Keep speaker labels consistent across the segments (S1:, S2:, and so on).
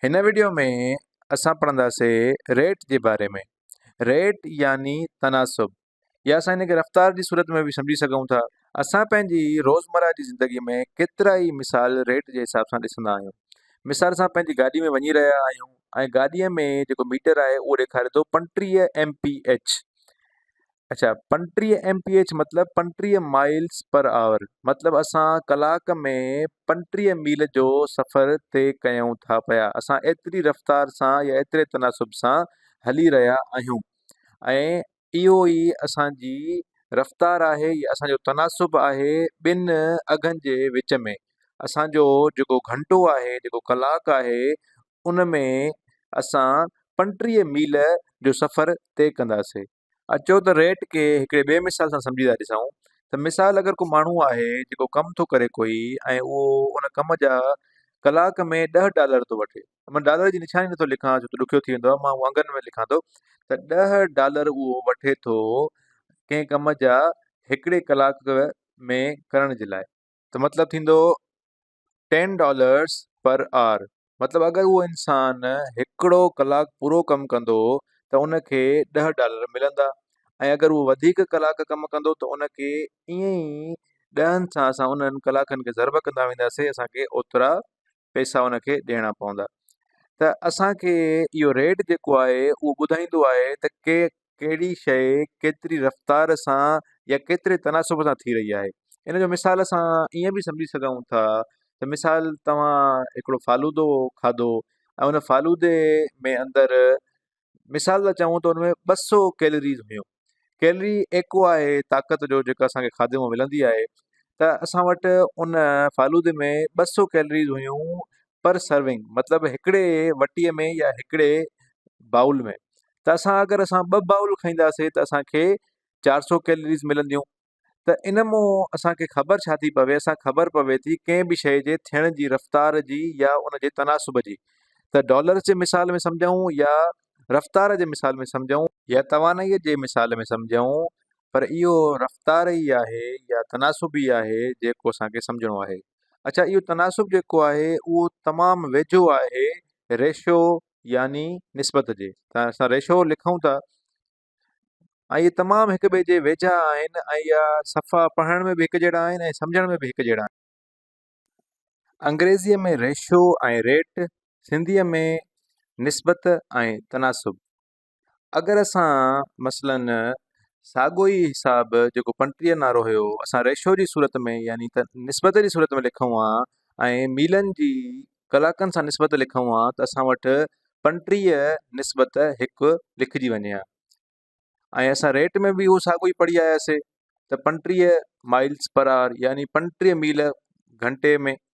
S1: هن وڊيو ۾ اسان پڙهنداسي ريٽ جي باري ۾ ريٽ يعني تناسب يا اسان هن کي رفتار جي صورت ۾ به سمجهي سگهون ٿا اسان پنهنجي روزمره جي زندگي ۾ ڪيترا ئي مثال ريٽ جي حساب سان ڏسندا آهيون مثال سان پنهنجي گاڏي ۾ وڃي رهيا آهيون ۽ گاڏيء ۾ جيڪو ميٽر آهي اهو ڏيکاري ٿو پنٽيهه ايم پي ايچ اچا پنٽيهه ايم پي ايڇ مطلب پنٽيهه مائلس پر آور مطلب اسان ڪلاڪ ۾ پنٽيهه ميل جو سفر طئي ڪيون ٿا پيا اسان ايتري رفتار سان يا ايتري تناسب سان هلي رهيا آهيون ۽ اهو ئي اسان جي رفتار آهي يا اسان جو تناسب آهي ٻن اگهن جي وچ ۾ اسان جو جيڪو گهنٽو آهي جيڪو ڪلاڪ آهي ان ۾ اسان پنٽيهه ميل جو سفر طئي ڪنداسين اچو ته ريٽ کي هڪڙي ٻئي مثال سان سمجهي ٿا ڏسون ته مثال اگر ڪو ماڻهو آهي جيڪو ڪم ٿو ڪري ڪوئي ۽ اهو ان ڪم جا ڪلاڪ ۾ ڏهه ڊالر ٿو وٺي مان ڊالر جي نشاني نٿو لکان ڇو ته ڏکيو ٿي ويندو آهي مان اهو انگن ۾ لکان ٿو ته ڏهه ڊالر اهو وٺي ٿو ڪنهن ڪم جا هڪڙي ڪلاڪ ۾ ڪرڻ جي لاء ته مطلب ٿيندو ٽين ڊالرس پر آر مطلب اگر اهو انسان هڪڙو ڪلاڪ پورو ڪم ڪندو ته ان کي ڏهه ڊالر ملندا ۽ اگر اهو وڌيڪ ڪلاڪ ڪم ڪندو ته ان کي ائين ئي ڏهن سان اسان انهن ڪلاڪن کي ضرب ڪندا وينداسين اسانکي اوترا پئسا ان کي ڏيڻا پوندا ته اسانکي اهو ريٽ جيڪو آهي اهو ٻڌائيندو آهي ته ڪي ڪهڙي شيء ڪيتري رفتار سان يا ڪيتري تناسب سان ٿي رهي آهي ان جو مثال سان ائين به سمجهي سگهون ٿا ته مثال توهان هڪڙو فالودو کاڌو ۽ ان فالودي ۾ اندر مثال لاء چئون ته انهي ٻه سو ڪيلريز هيون ڪيلري ايڪو آهي طاقت جو جيڪو اسان کي کاڌي مون ملندي آهي ته اسان وٽ ان فالودي ۾ ٻه سو ڪيلريز هيون پر سرونگ مطلب هڪڙي وٽي ۾ يا هڪڙي بائول ۾ ته اسان اگر اسان ٻه بائول کائينداسي ته اسان کي چار سو ڪيلريز ملنديون ته ان مون اسان کي خبر ڇا ٿي پوي اسان خبر پوي ٿي ڪنهن به شيء جي ٿيڻ جي رفتار جي يا ان جي تناسب جي ته ڊالرز جي مثال ۾ سمجهون يا رفتار جي مثال ۾ سمجهون يا توانائي جي مثال ۾ سمجهون پر اهو رفتار ئي آهي يا تناسب ئي آهي جيڪو اسان کي سمجهڻو آهي. اڇا اهو تناسب جيڪو آهي اهو تمام ويجهو آهي ريشو يعني نسبت جي تان اسان ريشو لکون ٿا ۽ اهي تمام هڪ ٻئي جي ويجها آهن ۽ اها صفا پڙهڻ ۾ به هڪ جهڙا آهن ۽ سمجهڻ ۾ به هڪ جهڙا آهن انگريزيء ۾ ريشو ۽ ريٽ سنڌيء ۾ نسبت ۽ تناسب اگر اسان مثلاً ساڳو ئي حساب جيڪو پنٽيهه نارو هيو اسان ريشو جي صورت ۾ يعني ته نسبت جي صورت ۾ لکون ها ۽ ميلن جي ڪلاڪن سان نسبت لکون ها ته اسان وٽ پنٽيهه نسبت هڪ لکجي وڃي ها ۽ اسان ريٽ ۾ به اهو ساڳو ئي پڙهي آياسي ته پنٽيهه مائلس پر آر يعني پنٽيهه ميل گهنٽي ۾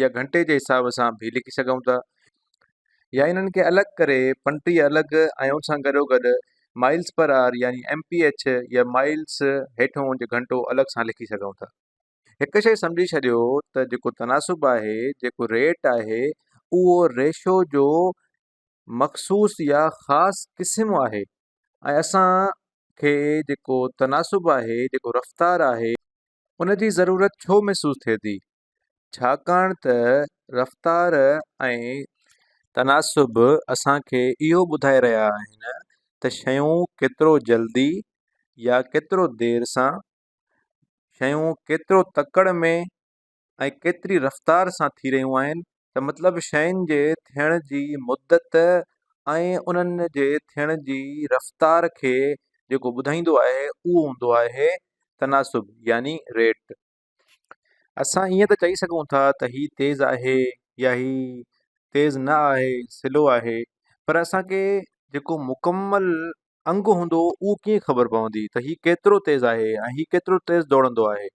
S1: يا گهنٽي جي حساب سان به لکي سگهون ٿا يا انهن کي الڳ ڪري پنٽي الڳ ۽ ان سان گڏو گڏ مائلس پر آر يعني ايم پي ايڇ يا مائلس هيٺون جي گهنٽو الڳ سان لکي سگهون ٿا هڪ شيء سمجهي ڇڏيو ته جيڪو تناسب آهي جيڪو ريٽ آهي اهو ريشو جو مخصوص يا خاص قسم آهي ۽ اسان کي جيڪو تناسب آهي جيڪو رفتار آهي ان جي ضرورت ڇو محسوس ٿئي ٿي ڇاڪاڻ ته رفتار ۽ تناسب اسان کي اهو ٻڌائي رهيا آهن ته شيون ڪيترو جلدي يا ڪيترو دير سان شيون ڪيترو تڪڙ ۾ ۽ ڪيتري رفتار سان ٿي رهيون آهن ته مطلب شين جي ٿيڻ جي مدت ۽ انهن جي ٿيڻ جي رفتار کي جيڪو ٻڌائيندو آهي اهو هوندو آهي تناسب يعني ريٽ اسان ائين ته چئي سگهون ٿا ته هي تيز آهي يا هي تيز نه آهي سلو آهي پر اسان کي جيڪو مڪمل انگ هوندو اهو ڪيئن خبر پوندي ته هي ڪيترو تيز آهي ۽ هي ڪيترو تيز ڊوڙندو آهي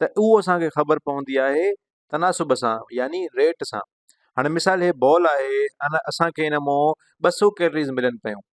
S1: ته اهو اسان کي خبر پوندي آهي تناسب سان يعني ريٽ سان هاڻي مثال هي بال آهي ان اسان کي ان مون ٻه سو ڪيلريز ملن پيون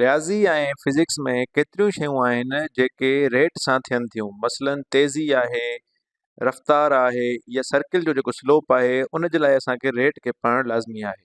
S1: رياضي ۽ فزڪس ۾ ڪيتريون شيون آهن جيڪي ريٽ سان ٿين ٿيون مثلاً تيزي آهي رفتار آهي يا سرڪل جو جيڪو سلوپ آهي ان جي لاء اسان کي ريٽ کي پڙهڻ لازمي آهي